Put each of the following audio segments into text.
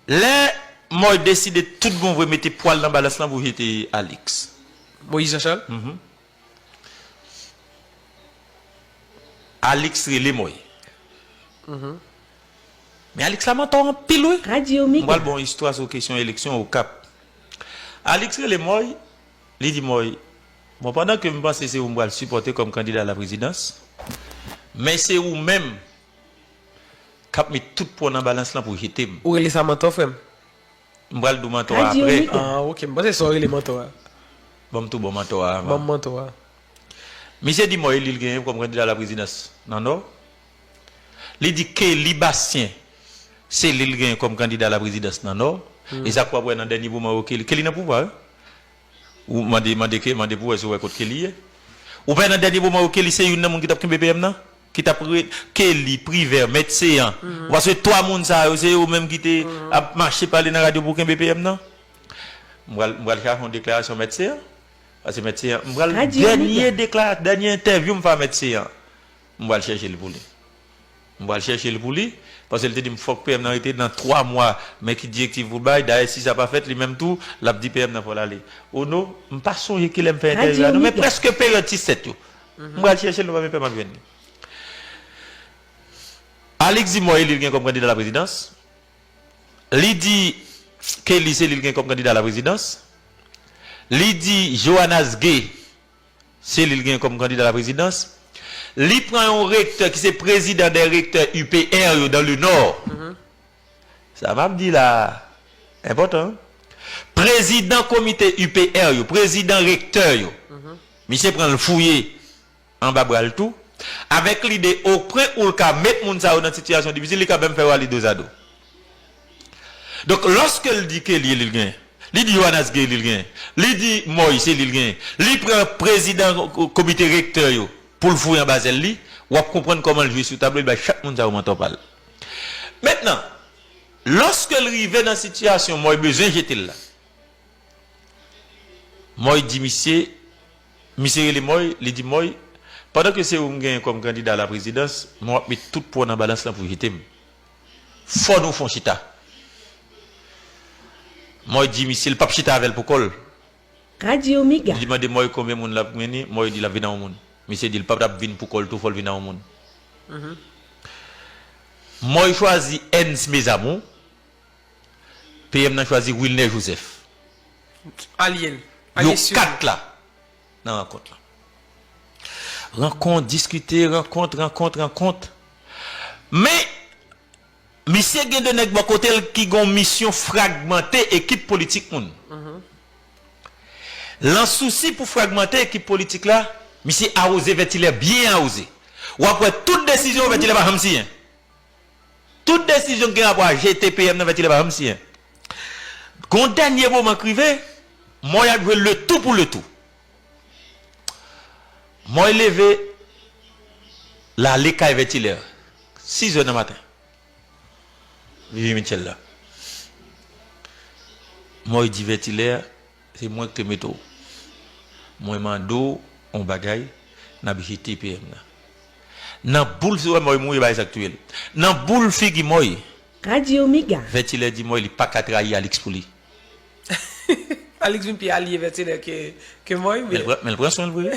Lè Mòy deside tout bon vre mete pwa l nan balans lan pou jete Alix. Moyiz Janchal? Alix rele Mòy. Men Alix la mantò anpil wi. M pral ba w yon istwa sou kesyon eleksyon Okap. Alix rele Mòy, li di Mòy, Bon pandan ke m panse se ou m pral sipòte kòm kandida a la prezidans, men se ou menm K ap met tout pò nan balans lan pou jete m. Ou rele sa mantò frè m? M pral di w mantò a aprè. Ah ok, m panse se sa w rele mantò a. Ban m tou bon mantò a avan. Ban m mantò a. Misye di mò eli l genyen kòm kandida laprezidans nan Nò. Li di Kelly Bastien se li l genyen kòm kandida laprezidans nan Nò. E sa k wap wè nan dènye moman yo Kelly, Kelly nan pouvwa wi. Ou mande, mande Kelly, mande pou w wè si w wè kot Kelly ye. Ou pa wè nan dènye moman yo Kelly se youn nan moun ki t ap kenbe PM nan? Ki tap re Kelly, Privert, Mèt Céant. Ou pa sonje 3 moun sa yo se yo menm ki te ap mache pale nan radyo pou kenbe PM nan? M pral m pral chache yon deklarasyon Mèt Céant. Pase Mèt Céant m pral dènye dekla dènye entèvyou m fè a Mèt Céant m pral chèche l pou li. M pral chèche l pou li pase l te di m fòk PM nan rete nan 3 mwa men ki direktiv pou l bay dayè si sa pa fèt li menm tou lap di PM nan fò l ale. Ono m pa sonje kilè m fè entèvyou a non men prèske peryòd ti 7 yo. M pral chèche l nou pa menm pè map jwenn li. Alix di Moy li gen kòm kandida laprezidans. Li di Kelly se li l gen kòm kandida laprezidans. Li di Johannas Gay se li l gen kòm kandida laprezidans. Li pran yon rektè ki se prezidan dè rektè UPR yo dan le nò. Sa m ap di la a enpòtan. Prezidan komite UPR yo, prezidan rektè yo, misye pran l fouye anba bra l tou, avèk lide opwen ou l ka met moun sa yo nan sitiyasyon difisil, li ka menm fè yo ale dozado. Donk, lòske l di Kelly li genyen, li di Yoannas Gay li genyen, li di Moy se li l genyen, li pran prezidan komite rektè yo pou l fouye anba zèl li, w ap konprann kòman l jwe sou tablo, li bay chak moun sa yo mantò pa l. Mentnan, lòske l rive nan sitiyasyon Mòy bezwen jete l la, Mòy di misye, misye rele Mòy, li di Mòy, pandan ke se ou m genyen kòm kandida a la prezidans, men w ap met tout pwa w nan balans lan pou w jete m. Fò nou fon chita. Mòy di misye l p ap chita avè l pou kò l. Radio Mega. Didi mande Moy konbyen moun lap vini, Moy di lap vin a yon moun. Misye di l pap tap vin pou kòl tou fòl vin a yon moun. Moy chwazi Ernst Mes Amours, PM nan chwazi Wilner Joseph. Alyen. Yo 4 la nan rankont lan. Rankont, diskite, rankont, rankont, rankont. Men. Misye gen 2 nèg bò kote l ki gen yon misyon fragmante ekip politik moun. Lan sousi pou fragmante ekip politik la, misye awoze Vètilè byen awoze. W ap wè tout desizyon Vètilè pa janm siyen. Tout desizyon ki gen rapò a jete PM nan Vètilè pa janm siyen. Gen yon dènye moman k rive, mò y ap jwe letou pou letou. Moy leve l ale kay Vètilè, sizè nan maten. Vivi Mitchell la. Moy di Vètilè, se mwen ki te mete w. Mwen mande w yon bagay, n ap jete PM nan. Nan boul fi, ou wè Moy mouri, bagay sa ki touye l. Nan boul figi Moy. Radio Mega. Vètilè di Moy li pa ka trayi Alix pou li. Alix vin pi alye Vètenè ke Moy men. Men l pran swen l vre.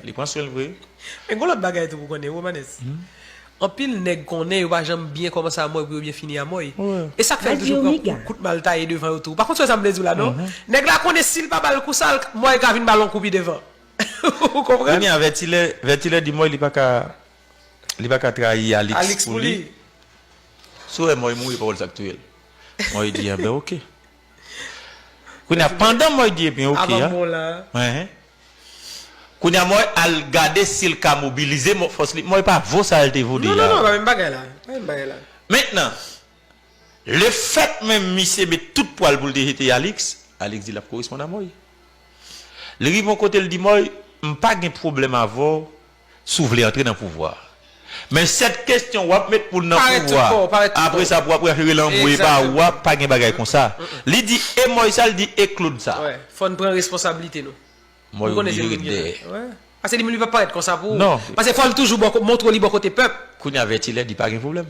Li pran swen l vre. Men gon lòt bagay tou pou konnen Romanes. Anpil nèg konnen yo pa janm byen kòmanse a Moy pou yo byen fini a Moy. E sa k fè yo toujou pran kou, kout mal taye devan yo tou. Ou pa konn swen sa m vle di w la non. Nèg la konnen si l pa ba l kou sa l, Moy ka vin ba l yon kou pi devan. Ou konprann? Kounye a Vètilè, Vètilè di Moy li pa ka, li pa ka trayi Alix pou li. Sou wè Moy mouri pawòl sa k touye l. Moy di enben ok. Kounye a pandan Moy di ebyen ok a, kounye a Moy al gade si l ka mobilize fòs li. Moy pa vo sa l te vo deja. Non, non, pa menm bagay la. Pa menm bagay la. Mentnan, lefèt menm misye met tout pwa l pou l te jete Alix, Alix di l ap koresponn a Moy. Li rive yon kote l di Moy, m pa gen pwoblèm avè w si w vle antre nan pouvwa a. Men 7 kestyon w ap met moun nan pouvwa a, apre sa pou w ap rache rele anmwe e ba ou a, pa gen bagay konsa. Li di e Moy sa, li di e Claude sa. Fò n pran responsablite nou. Moy oblije ret dèyè. Pase li menm li p ap parèt konsa pou ou. Pase fò l toujou montre li bò kote pèp. Kounye a Vètilè di pa gen pwoblèm.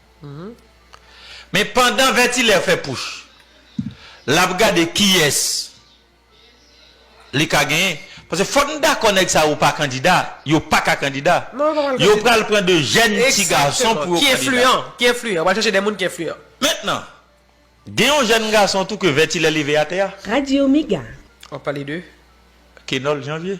Men pandan Vètilè fè pouch l ap gade kiyès li ka genyen. Paske fòk n dakò nèg sa yo pa kandida. Yo pa ka kandida. Yo pral pran de jèn ti gason pou yo kandida. Ki enfliyan. Yo pral chèche de moun ki enfliyan. Mentnan, gen yon jèn gason tou ke Vètilè leve atè a. Radio Mega. W ap pale de? Kenòl Janvye.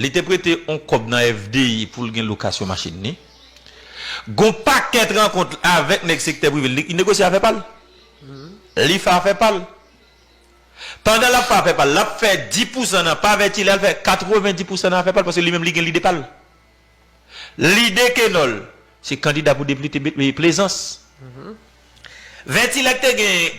Li te prete on kòb nan FDI pou l gen lokasyon machin li. Gen on pakèt rankont l avèk nèg sektè prive. Li negosye afè pa l. Li fè afè pa l. Pandan l ap fè afè pa l, l ap fè di pousan nan pa Vèti, li al fè katreven di pousan nan afè pa l paske li menm li gen lide pa l. Lide Kenòl se kandida pou deplite Plezans. Vètilè te gen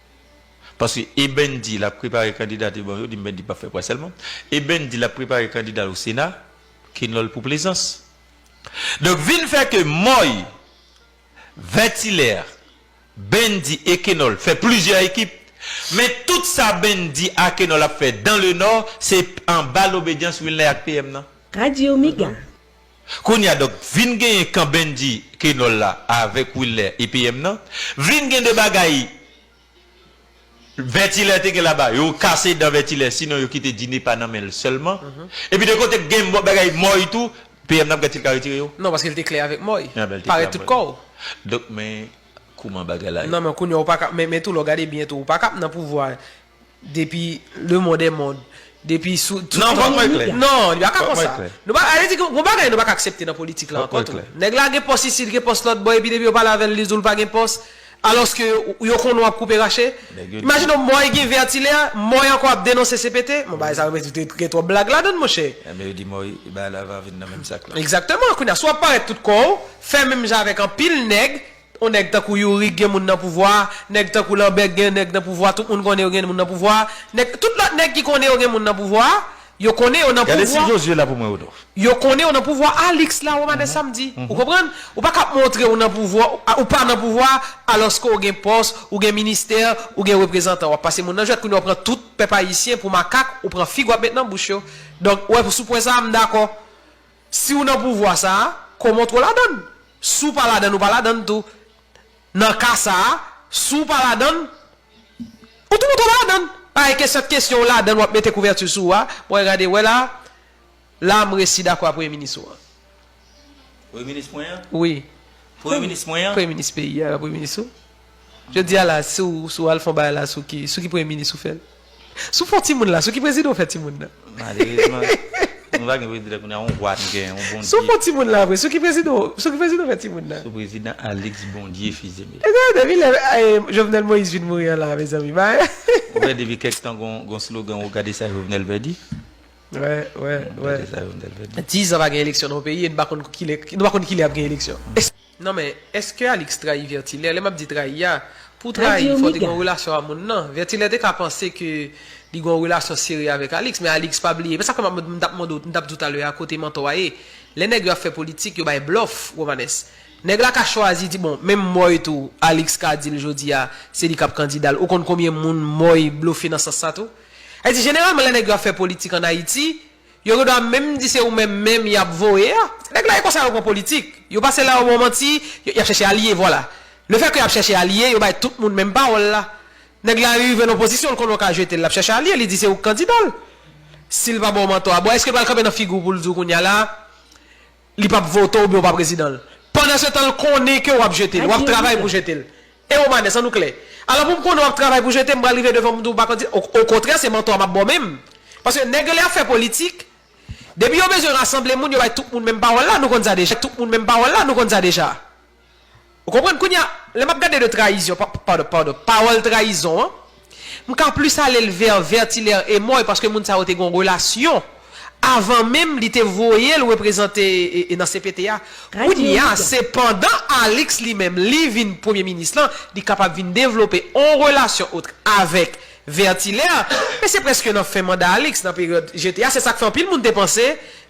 Paske Eben di lap prepare kandida te bon yo di men li pap fè pwa sèlman. Eben di lap prepare kandida l o sena, Kenòl pou plezans. Donk vin fè ke Mòy, Vètilè, Ben di e Kenòl fè plizyè ekip. Men tout sa Ben di a Kenòl ap fè dan le Nò se anba lobedyans Wilnè ak PM nan. Radio Mega. Kounya donk vin genyen kan Bendy Kenol la avèk Wilner EPM nan vin gen 2 bagay Vètilè te gen laba yo kase dan Vètilè sinon yo kite Dine pa nan men l sèlman epi de kote k gen bagay Mòy tou PM nan p gad si l ka retire yo. Non paske l te klè avèk Mòy. Anben l te klè Parèt avèk tout kò w. Donk men kouman bagay la ye. Non men kounya ou pa ka men tou lè w gade byen tou ou pa ka p nan pouvwa Depi le mond e mond. Depi sou tout. Non, vòt mwen klè. Non, li pa ka konsa. Nou pa, ale di gen yon bagay nou pa ka aksepte nan politik la ankò tou. Nèg la gen pòs isit, gen pòs lòtbò epi depi yo pale avè l li di w l pa gen pòs, alòske yo konnen w ap koupe rache. Imajine w Mòy gen Vètilè, Mòy ankò ap denonse CPT. Bon bagay sa yo gen twòp blag ladan l monchè. Enben yo di Mòy bagay la va vin nan menm sak la. Egzakteman. Kounye a, si w ap parèt tout kò w, fè menm jan avèk anpil nèg, On nèg tankou youri k gen moun nan pouvwa a, nèg tankou lanbè k gen nèg nan pouvwa a, tout moun konnen yo gen moun nan pouvwa a, nèg tout lòt nèg ki konnen yo gen moun nan pouvwa a, yo konnen yo nan Gade si pouvwa. Josué la pou mwen Rodolphe. Yo konnen yo nan pouvwa a, Alix la ou madan samedi. Ou konprann? Ou pa kap montre ou nan pouvwa a, ou pa nan pouvwa a, alòske ou gen pòs, ou gen ministè, ou gen reprezantan. Wap pase moun nan jwèt kounye a ou pran tout pèp ayisyen pou makak, ou pran fig wap met nan bouch yo. Donk ou wè sou pwen sa a m dakò. Siw nan pouvwa sa a, koman w t ko ladann? Si w pa ladann ou pa ladann tou. Nan ka sa a, si w pa ladann, ou tou montre w pa ladann. Pa gen kesyon kesyon w ladann wap mete kouvèti sou ou a. Bon e gade, wè la, la m resi dakò a premye minis ou an. Premye minis mwen an? Wi. Premye minis mwen an? Premye minis peyi a, premye minis ou. Jodi a la si w si w al fè yon bagay la sou ki sou ki premye minis ou fè l? Si w fè yon timoun la sou ki prezidan ou fè timoun nan? Malerezman nou pa gen prezidan kounye a yon vwa n gen yon Si w Bondye. fè yon timoun la vre sou ki prezidan w sou ki prezidan w fè timoun nan? Sou prezidan Alix Bondye Fils-Aimé. Ebyen depi lè Jovenel Moïse vin mouri an la mezanmi bagay. Ou wè depi kèk tan gon gon slogan ou gade sa Jovenel vè di? Wè wè wè. Gade sa Jovenel vè di. 10 zan pa gen eleksyon nan yon peyi e n pa konn kilè nou pa konn kilè ap gen eleksyon. Non men, eske Alix trayi Vertilaire? Lè map di trayi a, pou trayi fò te gen yon relasyon a moun nan. Vertilaire te ka panse ke li gen yon relasyon serye avèk Alix, men Alix pa bliye. Men sa fè map mande, m tap mande w, m tap di w talè a kote Mantò a ye. Lè nèg yo ap fè politik, yo bay blòf, Romanes. Nèg la ka chwazi di bon, menm Moy tou, Alix ka di l jodi a, se li kap kandida l. Ou konn konbyen moun Moy blofe nan sans sa tou? Sa vle di jeneralman lè nèg yo ap fè politik an Ayiti, Yo gen dwa menm di se ou menm menm y ap voye a. Nèg la e konsa yo pran politik. Yo pase la yo ba w manti, y ap chèche alye, vwala. Lefètke y ap chèche alye, yo bay tout moun menm pawòl la. Nèg la rive nan pozisyon l konnen w ka jete l, l ap chèche alye, li di se ou k kandida l. Si l pa ba w mantò a, bon èske l pral kanpe nan figi w pou l di w kounye a la, Li pap vote w oubyen w pa prezidan l. Pandansetan l konnen ke w ap jete l, w ap travay pou jete l. E Romanes, an nou klè. Alò pou m konnen w ap travay pou jete m, m pral rive devan m di w pa kandida. Okontrè, se mantò a m ap ba w menm. Paske nèg yo lè y ap fè politik, depi yo bezwen rasanble moun, yo bay tout moun menm pawòl la, nou konn sa deja. Ou konprann? Kounye a, lè m ap gade de trayizyon, pa, padon, padon, pawòl trayizon an, m ka plis ale l vè Vertilaire Emòy paske moun sa yo te gen yon relasyon avan menm li te voye l reprezante nan cpt a. Kounye a, se pandan Alix li menm li vin Premye Minis lan, li kapab vin devlope yon relasyon otre avèk Vertilaire, men se prèske nan fen manda Alix, nan peryòd jete a, se sa k fè anpil moun te panse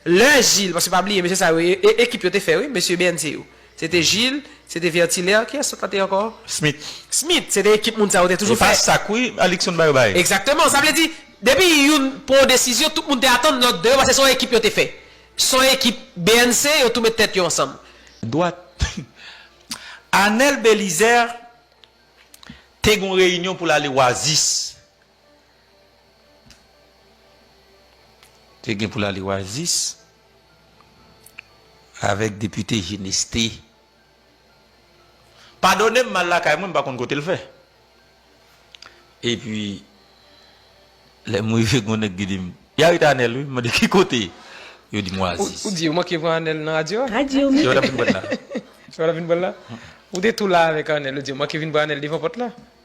lè Gilles, paske pa bliye mesye sa yo e, e, ekip yo te fè wi, mesye BNC yo. Se te Jil, se te Vètilè, kiyès lòt la te ankò? Smit. Smit, se te ekip moun sa yo te toujou fè. E pa sak wi, Alikson bay yo bay. Egzakteman, sa vle di, depi youn pran yon desizyon, tout moun te atann lòt de yo pase se yon ekip yo te fè. Se yon ekip bnc, yo tou met tèt yo ansanm. Dwat. Anèl Belizè te gen yon reyinyon pou l ale Wazis. Te gen pou l ale Oasis avèk depite Geneste. Padone m m al lakay mwen m pa konn kote l fè. Epi lè m rive gen yon nèg ki di m, y arete Anèl wi. M mande ki kote? Yo di m Oasis. Ou di yo manke pran Anèl nan radyo a? Se yo t ap vin pran l la. Se yo t ap vin pran l la? Ou te tou la avèk Anèl. Yo di yo manke vin pran Anèl devan pòt la?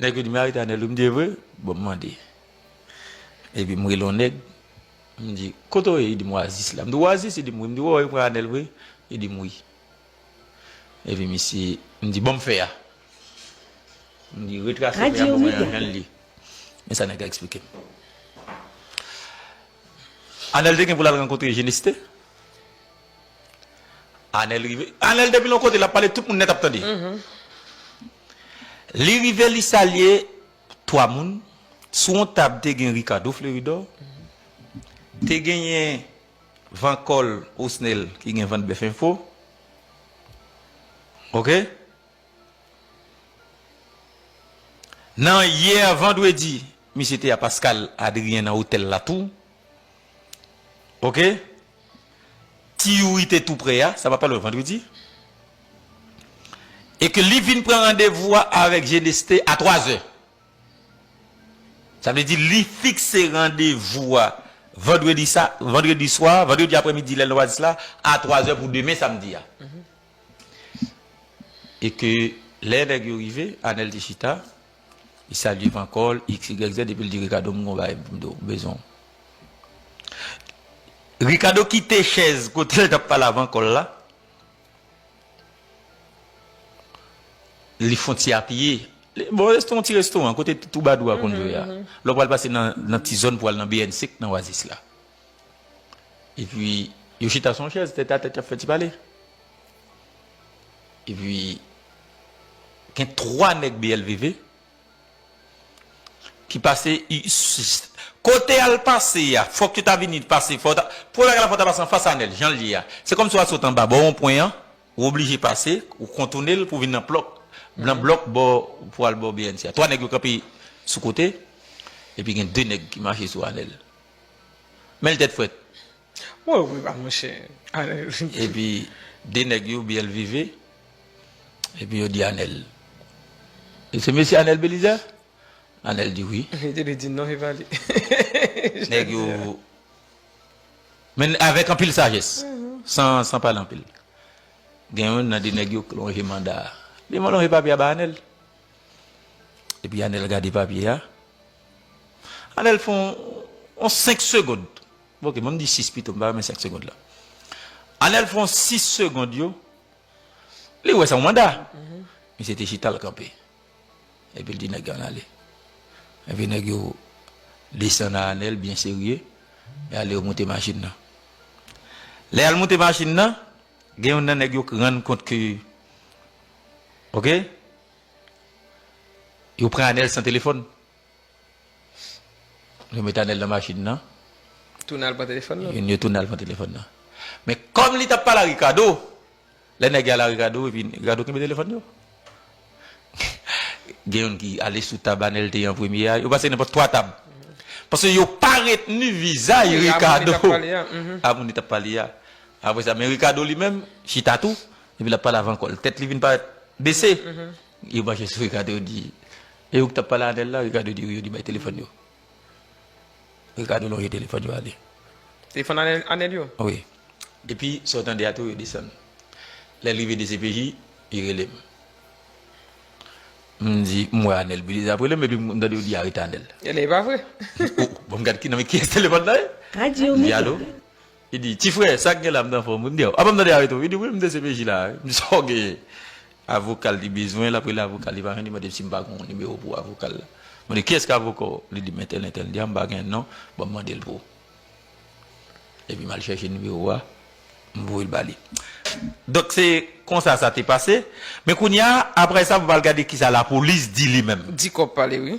Nèg yo di Maritane li m di e vre bon m mande epi m rele yon nèg m di kote w ye li di m oasis la m di oasis li di m wi m di wè w e pran Anèl vre li di m wi epi misye m di ban m fè a m di retrase fè a ban mwen Anèl li men sa nèg la eksplike m Anèl te gen pou l al rankontre Jeneste Anèl rive Anèl depi l yon kote l ap pale tout moun nèt ap tande. Li rive li salye 3 moun, sou yon tab te gen Ricardo Fleuridor, te genyen Vancol Osnel ki gen vant bèf enfo. Ok. Nan yè vandredi, misye te a Pascale Adrien nan otèl la tou. Ok. Ti Youri te tou prè a, sa pa pale vandredi, e ke li vin pran randevou a avèk Geneste a 3 zè. Sa vle di li fikse randevou a vandredi sa, vandredi swa, vandredi aprè midi lè l nan Oasis la a 3 zè pou demen samdi a. E ke lè nèg yo rive, Anèl te chita. Li salye van kò l, xyz, epi l di Rikado m gen yon bagay pou m di w, m bezwen w. Rikado kite chèz kote l t ap pale a van kò l la, li fon ti apiye, bon resto yon ti restoran kote twoubadou a konn jwe a, lè w pral pase nan ti zòn pou al nan BNC k nan Oasis la. Epi yo chita sou yon chèz tèt a tèt y ap fè ti pale. Epi gen 3 nèg BLVV ki pase kote al pase a fòk yo ta vini pase fòk yo ta pou bagay la fòk yo ta pase anfas anèl jan li ye a se kòmsi wap sot anba bò wonpwen an ou oblije pase ou kontoune l pou vin nan plòk nan blòk bò pou al bò bnc a 3 nèg yo kanpe sou kote epi gen 2 nèg ki mache sou anèl men l tèt frèt. Mwen ou priva mon chè. Epi de nèg yo byen lvive epi yo di anèl e se mesye anèl belizè anèl di wi epi li di non se pa li nèg yo men avèk anpil sajès san pale anpil gen yon nan de nèg yo k lonje manda li man lonje papye a bay anèl epi anèl gade papye a anèl fon yon 5 segond Ok, banm di 6 pito, m pa renmen 5 segond la. Anel fon 6 segond yo, li wè se yon manda. Misye te chita l kanpe. Epi l di nèg yo ann ale. Epi nèg yo desann a Anel byen serye, y ale yo moute machin nan. Lè y al moute machin nan, gen youn nan nèg yo k rann kont ke ok, yo pran Anel san telefòn. Yo met Anel nan machin nan. Tounen al pran telefòn nan. Yo tounen al pran telefòn nan. Men kòm li t ap pale ak Rikado, lè nèg yo ale a Rikado epi Rikado kenbe telefòn yo. Gen youn ki ale sou tab Anel te ye an premye a. Yo pase nenpòt twa tab. Paske yo pa retni vizaj Rikado a moun li t ap pale a. Apre sa men Rikado li menm chita tou epi l ap pale avan kò l. Tèt li vin parèt bese. Yo mache sou Ricardo yo di, e ou ki tap pale avèl la, Ricardo di wi yo di bay telefòn yo. Ricardo lonje telefòn yo ale. Telefòn Anel yo? Wi. Epi sa ou tande a tou yo desann. Lèl rive dcpj, li relem. M di m wè Anel bile ap relem epi m tande yo di arete Anel. Elè e pa vre? Bon m gad ki nan men kiyès telefòn la ye? Li di alo? Li di, Ti frè, sa k gen la? M t anfòm wi. M di, A, pa m tande a retou. Li di, Wi, m dcpj la. M di, Sa w genyen? Avoka l li bezwen, l ap rele avoka l, li pa jwenn, li mande m si m pa gen yon nimewo pou avoka l la. Mwen di, Kiyès ki avoka w? Li di m, Entèl, entèl. M di, A, m pa gen non, ban m mande l pou ou. Epi m al chèche nimewo a, m voye l ba li. Donk, se konsa sa te pase. Men kounye a, apre sa, m pral gade kisa lapolis di li menm. Di kòb pale wi.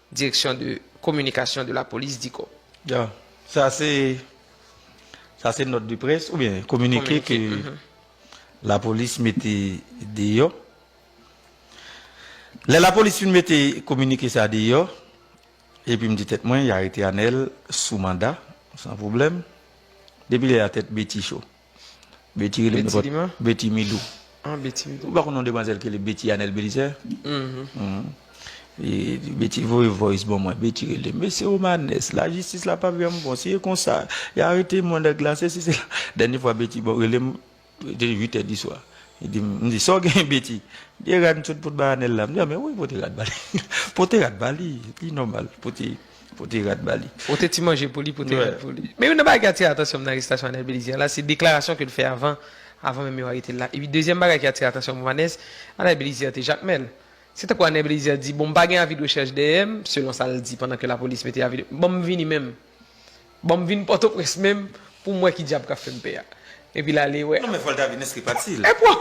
Direction de communication de la police di ko. Ya, sa se, sa se nòt de près oubyen kominike ke lapolis mete deyò. Lè lapolis fin mete kominike sa deyò, epi m di tèt mwen y arete Anèl sou manda san pwoblèm, depi lè a tèt Beti cho. Betty rele m nenpòt Betty Milou Ou pa konn yon demwazèl ki rele Betty Anèl Belizè Betty voye voice ban mwen Betty rele m Mesye Romanès lajistis la pap janm bon si e konsa y arete mwen nèg la sesi sela Dènye fwa Betty rele m li te 8 è diswa li di m Sa w genyen Betty M di e rad m sot pot bay Anèl la M di a men wè pote rad ba li Pote rad ba li Li nòmal pote Pote rat ba li. Pote ti manje pou li, pote rat pou li. Men youn nan bagay ki atire atansyon m nan arestasyon Anel Belize an la, se deklarasyon ke l fè avan, avan menm yo arete l la. Epi dezyèm bagay ki atire atansyon m Vanès, Anel Belize te jakmèl. Se tankou Anel Belize di, bon m pa gen avi de rechèch dèyè m, selon sa l di pandan ke lapolis mete avi de, bon m vini menm. Banm vin pòtoprens menm pou m wè ki dyab kap fè m pè a. Epi l ale wè. Non men fòl ta vin enskri pati l. Epwa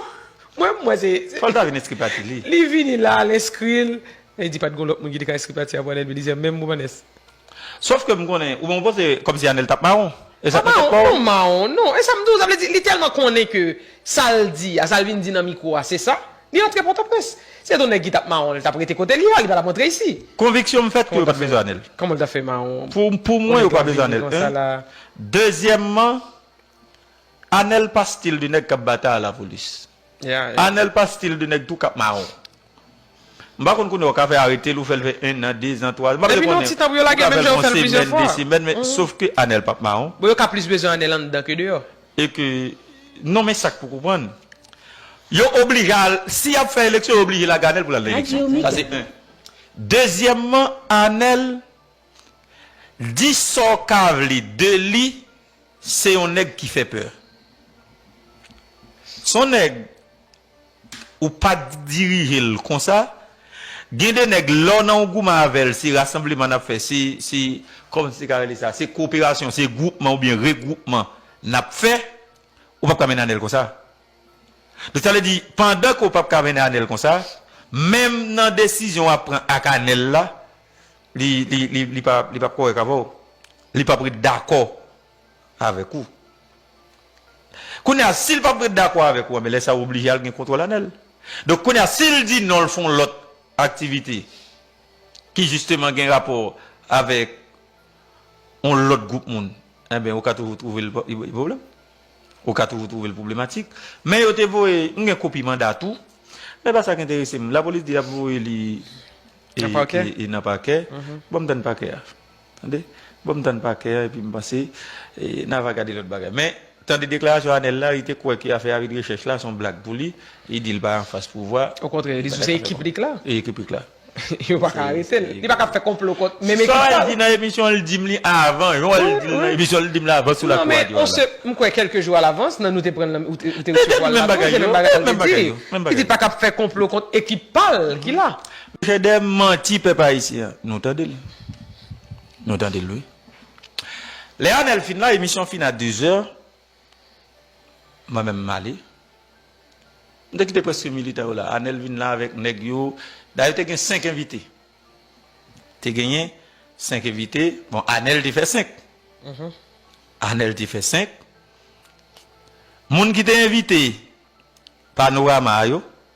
mwen m wè se se. Fòl ta vin enskri pati li. Li vini la l enskri l. E di pat gon lòt moun ki te ka enskri pati a pou Anel Belizaire menm pou Vanès. Sof ke m konnen ou menm ou panse kòm si Anel tap mawon. E sa k nan tèt pa w. Pa mawon non mawon non. E sa m di w sa vle di li tèlman konnen ke sa l di a sa l vin di nan mikwo a se sa. Li antre Pòtoprens. Se to nèg ki tap mawon li tap rete kote li a, li pa tap antre isi. Konviksyon m fèt ke yo pat bezwen anel. Kòman l ta fè mawon? Pou mwen yo pa bezwen anel 1, dezyèmman anel pa stil de nèg kap batay a la polis. Anel pa stil de nèg tou kap mawon. M pa konn kounye ou ka fè aretel ou fèl fè 1 an, 2 zan, 3 zan. Depi nan ti tan pou yo lage menm jan yo fèl plizyè fwa. Sofke anel pap mawon. Bon yo ka plis bezwen anel anndan ke deyò. E ke non men sak pou konprann. Yo oblije al, si yap fè eleksyon yo oblije lage Anel pou lal nan eleksyon. Sa se 1. Dezyèmman Anel di sa w ka vle de li se yon nèg ki fè pè. Son nèg ou pa k dirije l konsa gen de nèg lè w nan yon gouman avè l se rasanbleman n ap fè se se kòman m te ka rele sa se koperasyon se gwoupman oubyen regwoupman n ap fè ou p ap ka mennen anèl konsa donk sa vle di pandan ke w p ap ka mennen anèl konsa menm nan desizyon w ap pran ak anèl la li li li li pa p kòrèk avè w li p ap ret dakò avèk ou. Kounye a, si l pap ret dakò avèk ou, anben lè sa ou oblije al gen kontwòl anè l. Donk kounye a, si l di non l fè yon lòt aktivite ki jisteman gen rapò avèk yon lòt gwoup moun, anben ou ka toujou twouve l gen pwoblèm. Ou ka toujou twouve l pwoblematik. Men yo te voye, m gen kopi manda tou, men pa sa k enterese m. Lapolis di y ap voye li nan pakè, bon m tann pakè a. Tande bon m tann pa kè a epi m panse n ava gade lòt bagay. Men, tande deklarasyon Anèl la, li te kwè ke afè a vin rechèch la son blag pou li. Li di li pa anfas pouvwa. Okontrè, li di se ekip li k la. E ekip li k la. Yo pa ka arete l. Li pa ka fè konplo kont menm ekip pa l. Sa l di nan emisyon an, li di m li avan. Jan l di l nan emisyon an, li di m li avan sou lakou radyo a la. M kwè kèlke jou alavans nan nou te pran l nan ou te resevwa l nan lakou, se menm bagay sa l te di. Li di l pa ka fè konplo kont ekip pa l ki la. Chedè manti pèp ayisyen an. Nou tande l. Nou tande l wi. Lè Anel fin la emisyon fin a 2 zè mwen menm m ale. M te kite preske militan yo la. Anel vin la avèk nèg yo. Dayè te gen 5 envite. Te genyen 5 envite. Bon Anel te fè 5. Anel te fè 5. Moun ki te envite Panorama a yo.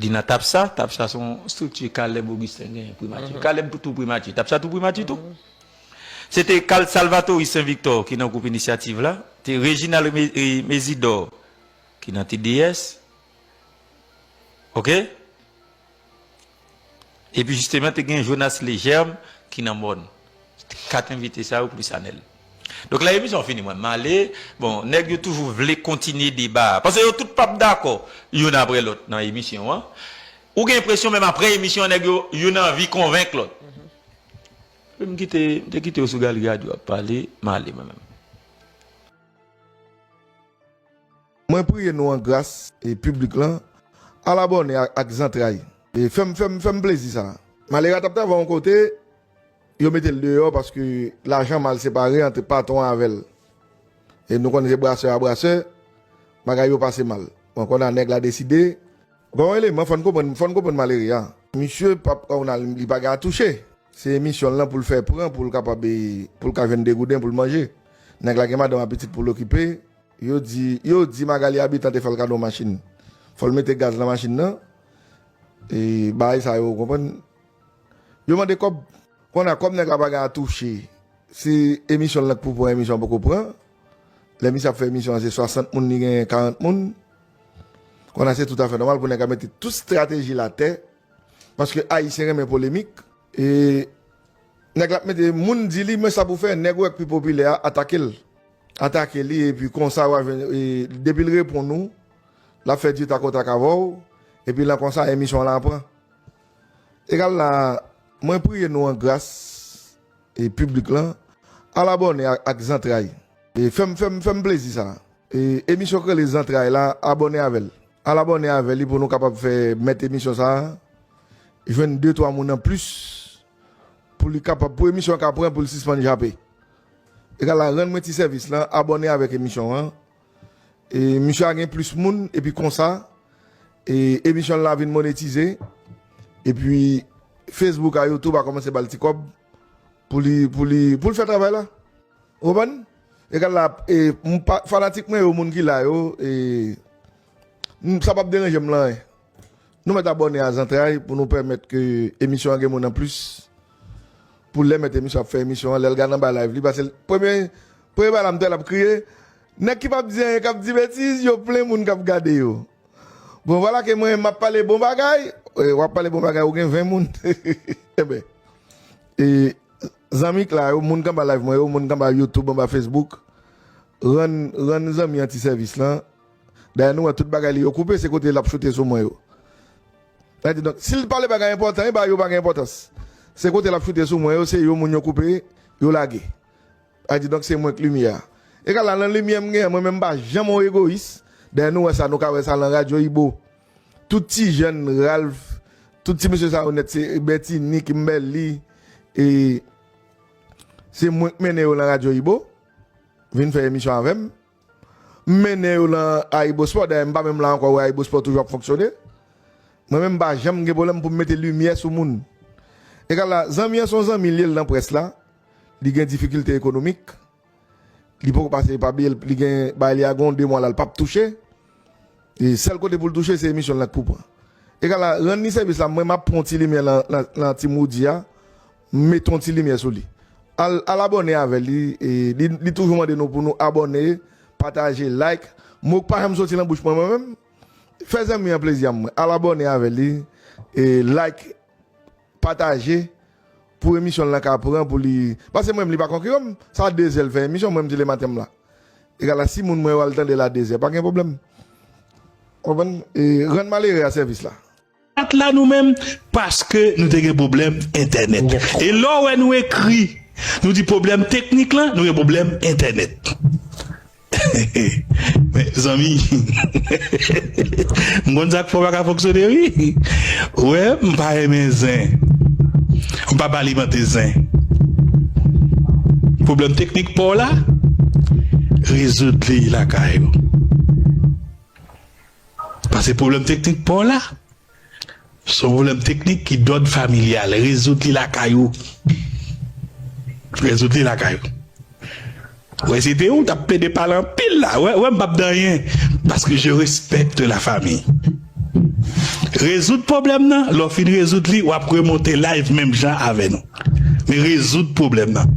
Li nan tap sa, tap sa son strikti Caleb Augustin genyen primati. Caleb tou primati, tap sa tou primati tou. Se te Carl Salvatory Saint Victor ki nan gwoup inisyativ la, te Reginald Mesidor ki nan TDS. Ok. Epi jisteman te gen Jonas Legerme ki nan mòn. Se te 4 envite sa yo plis Anèl. Donk lè emisyon an fini mwen m ale. Bon, nèg yo toujou vle kontinye deba a. Pase yo tout pap dakò youn aprè lòt nan emisyon an. Ou gen enpresyon menm aprè emisyon an nèg yo, youn anvi konvenk lòt. Epi m kite, m te kite yo sou galri radyo ap pale, m ale mwen menm. Mwen priye nou an gras e piblik lan al abòne ak zantray e fèm fèm fèm plezi sa. Malera tap travay yon kote yo metel deyò paske lajan mal separe antre patron an avèl e nou konnen se brasè a brasè bagay yo pase mal bon konnya nèg la deside Gen yon eleman fòn konprann fòn konprann malere a. Misye pap ka ounal li pa gen a touche se emisyon l lan poul fè pran poul kapab e poul ka jwenn 2 gouden poul manje nèg la gen madanm a pitit poul okipe. Yo di, yo di Magalie Habitant te fè l kado yon machin. Fò l mete gaz nan machin nan. E bagay sa yo, ou konprann. Yo mande kòb. Kounye a, kòm nèg la pa gen atouche, si emisyon l nan k pou pran, emisyon an poko pran. Lè misye ap fè emisyon an, se 60 moun li genyen, 40 moun. Kounye a, se tout afè nòmal pou nèg la mete tout strateji l atè. Paske Ayisyen renmen polemik. E. Nèg lap mete moun di li men sa pou fè nèg ou wè k pi popilè a atake l. Atake li epi konsa wa jwenn depi l reponn ou lap fè di tak o tak avè w epi lan konsa emisyon w lan pran egal la. Mwen priye nou an gras e piblik lan al abòne ak zantray fèm fèm fèm plezi sa. E emisyon k rele zantray la abòne avèl al abòne avè li pou nou kapab fè mèt emisyon sa jwenn de twa moun an plis pou li kapab pou emisyon ka pran poul sispann jape e ka la rann mwen ti sèvis lan abòne avèk emisyon an e misye a gen plis moun epi konsa e emisyon l la vin monetize epi fesbouk a youtube a kòmanse bal ti kòb pou li pou li poul fè travay la Ou konprann? Egal la e m pa fanatik mwen yo moun ki la yo e m sa pap deranje m lan anyen. Nou mèt abòne a zantray pou nou pèmèt ke emisyon an gen moun an plis. Pou lè mèt emisyon ap fè emisyon an lè l gad anba live li pase l premye premye bagay la m t wè l ap kriye nèg ki pap di anyen k ap di betiz yo plen moun k ap gade yo. Bon vwala ke mwen m ap pale bon bagay w ap pale bon bagay ou gen 20 moun enben e Zanmi k la yo, moun k anba live mwen yo, moun k anba youtube, anba facebook, rann rann zanmi an ti sèvis lan, dayè nou wè tout bagay li yo koupe se kote lap choute sou mwen yo. Sa di donk sil t pale bagay enpòtan eba yo pa gen enpòtans se kote lap choute sou mwen yo se yo moun yo koupe yo lage. Sa di donk se mwen k limyè a. Egal la nan limyè m gen an mwen menm m pa janm yon egoyis dayè nou wè sa nou ka wè sa lan radyo ibo. Tout ti jèn Ralph tout ti mesye sa yo nèt se Bertinie Kimberly e se mwen k mennen yo lan radyo Ibo vin fè emisyon avè m m mennen yo lan Ayibospò dayè m pa menm la ankò wè Ayibospò toujou ap fonksyone mwen menm m pa janm gen pwoblèm pou m mete limyè sou moun egal la zanmi an se yon zanmi l ye l nan près la li gen difikilte ekonomik. Li poko pase epa biyel li gen bay li a gon 2 mwa la li pap touche e sèl kote poul touche se emisyon la k pou pran egal a rann li sèvis la mwen map pran yon ti limyè nan team Roody a m met yon ti limyè sou li al al abòne avèl li e li toujou mande nou pou nou abòne pataje like mo k pa janm soti nan bouch mwen mwen menm fè zanmi an plezi a mwen al abòne avèl li e like. Pataje Pou emisyon lan ka pran pou li pase mwen menm li pa konkiran m sa 2 zè l fè emisyon mwen m di le maten m la egal a si moun mwen yo al tande l a 2 zè pa gen pwoblèm ou konprann e rann malere a sèvis la. Pat la nou menm paske nou te gen pwoblèm entènèt e lè w wè nou ekri nou di pwoblèm teknik lan nou gen pwoblèm entènèt. Mezanmi m konn sak fè w paka fonksyone wi ou wè m pa renmen zen m pap alimante zen pwoblèm teknik paw la rezoud li lakay ou pase pwoblèm teknik paw la. Son pwoblèm teknik ki dòd familyal. Rezoud li lakay ou. Rezoud li lakay ou. Wè se te ou tap plede pale anpil la wè wè mpap di anyen paske je respecte la famille. Rezoud pwoblèm nan lè w fin rezoud li wap remonte live menm jan avè nou. Men rezoud pwoblèm nan.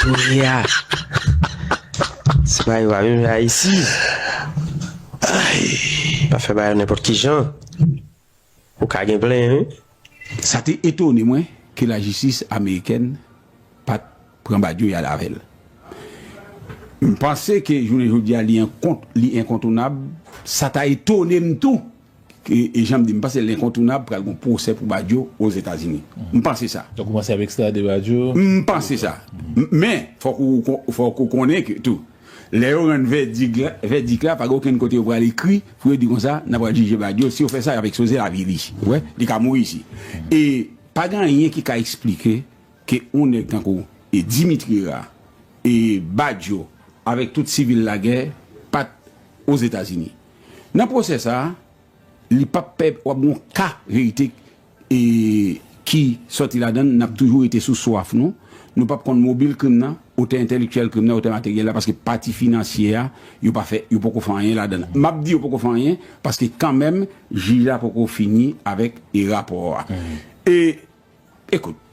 Kounye a, se pa yo pa vin fè Ayiti. Pa fè bagay nenpòt ki jan. Ou ka gen plen wi. Sa te etone mwen ke lajistis amerikèn pa t pran Badio y al avè l. M panse ke jounen jodi a li enkontounab. Sa ta etone m tou E janm di, m panse lenkontounab pral gon pwosè pou Badio Ozetazini. M panse sa. Yo koumanse ap ekstrade Badio? M panse sa. Men, fòk ou fòk ou konnen ke tou, lè yo rann vèdik la, vèdik la pa gen okenn kote yo pral ekri pou yo di konsa, n apral jije Badio. Si yo fè sa, y ap ekspoze lavi li. Ou wè? Li ka mouri isi. E pa gen anyen ki ka esplike ke yon nèg tankou Dimitri Ra e Badio avèk tout sivil lagè pa t Ozetazini. Nan pwosè sa a, li pap pè w ap gen yon ka verite ki sòti ladan l, n ap toujou rete sou swaf nou, nou pap konn mobil krim nan, otè entèlektyèl krim nan, otè materyèl la, paske pati finansye a, yo pa fè, yo poko fè anyen ladan l. M ap di yo poko fè anyen, paske kanmenm jij la poko fini avèk rapò a. E. Ekout.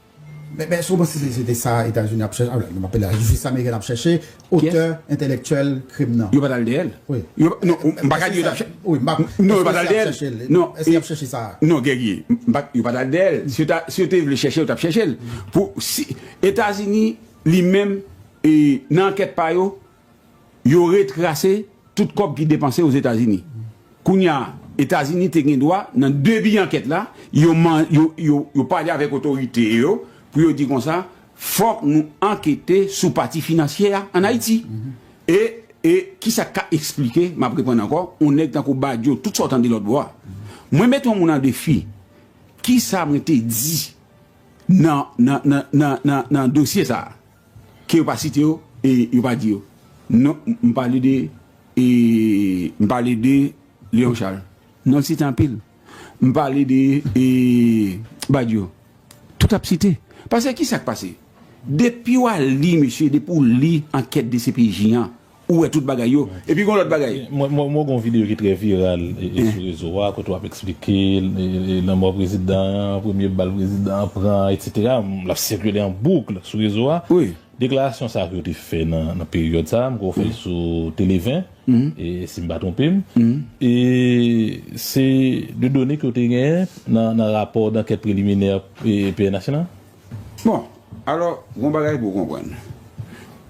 Men èske ou panse se se te sa Etazini ap chèche, m ap pale la jistis amerikèn ap chèche, otè entèlèktyèl krim nan? Yo pa t al dèyè l. Wi. Non, m pa ka di yo t ap chèche. Wi, m pa. Non, yo pa t al dèyè l. Èske yo t ap chèche l? Non. Èske y ap chèche sa a? Non, Guerrier. M pa. Yo pa t al dèyè l. Si yo te vle chèche l, yo t ap chèche l. Pou si Etazini li menm nan ankèt pa yo, Yo retrase tout kòb ki depanse Ozetazini. Kounya Etazini te gen dwa nan debi ankèt la, yo pale avèk otorite yo pou yo di konsa, fòk nou ankete sou pati finansyè a an Ayiti. E kisa k ka esplike, m ap reprann ankò, yon nèg tankou Badio, tout sa w tande lòtbò a. Mwen mete yon moun an defi, kisa mwen te di nan dosye sa a? Ke yo pa site yo e yo pa di yo. Non, m pale de e m pale de Leon Charles. Non l site anpil. M pale de e Badio. Tout ap site. Pase ki sa k pase? Depi w al li mesye, depi w li ankèt dcpj an, Ou wè tout bagay yo. Epi gon lòt bagay. Mwen wè gon videyo ki trè viral sou rezo a kote wap eksplike lanmò prezidan an, premye bal prezidan an pran an etc. Lap sikile an boukl sou rezo a. Deklarasyon sa ke yo te fè nan peryòd sa, mwen kwè ou fè l sou Tele 20 si m pa twonpe m. E se de done ke w te genyen nan rapò dankèt preliminè pnh lan? Bon, alò, gon bagay pou w konprann.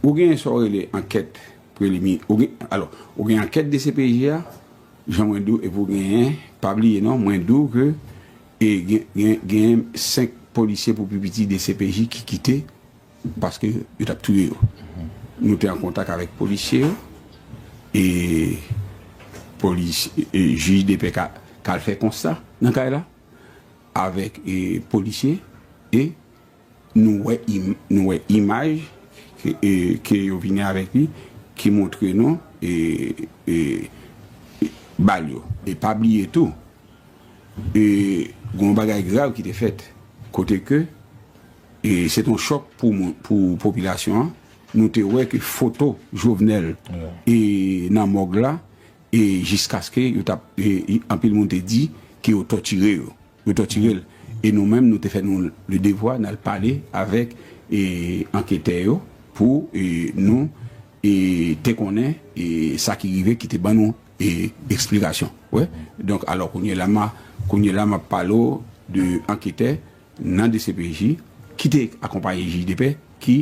Ou gen sa w rele ankèt prelimi, ou gen, alò, ou gen ankèt dcpj a, jan mwen di w, epi w genyen, pa bliye non, mwen di w ke e gen, gen, genyen 5 polisye pou pi piti dcpj ki kite paske yo t ap touye yo. Nou te an kontak avèk polisye yo e polis, jij depè ka, ka al fè konsta nan kay la. avèk polisye e nou wè nou wè imaj ke yo vini avèk li ki montre nou bal yo e pa bliye tou gen yon bagay grav ki te fèt kote ke se te yon chòk pou popilasyon an nou te wè ke foto Jovenel nan mòg la E jiskaske yo t ap, e anpil moun te di ke yo tòtire yo, yo tòtire l. E nou menm nou te fè nou le devwa n al pale avèk e anketè yo pou e nou e te konnen e sa ki rive ki te ban nou e eksplikasyon. Wè, donk alò kounye la ma, kounye la m ap pale w de anketè nan dcpj ki te akonpaye jij de pè ki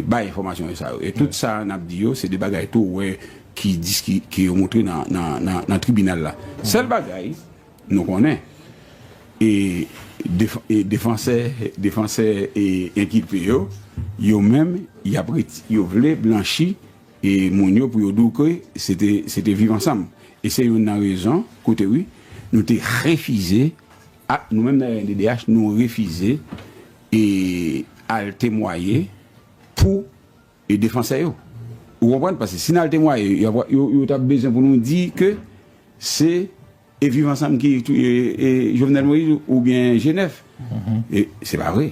bay enfòmasyon sa yo e tout sa n ap di yo se de bagay tou wè ki yo montre nan tribinal la sèl bagay nou konnen e defansè defansè e enkilpe yo yo menm y ap yo vle blanchi e moun yo pou yo di w ke se te viv ansanm e se youn nan rezon koute wi nou te refize A, Nou menm nan rnddh nou refize e al temwaye pou e defansè yo. Ou konprann? Pase si n al temwaye yo ap yo yo t ap bezwen pou nou di ke se e Viv Ansanm ki touye e Jovenel Moïse oubyen G9. E se pa vre.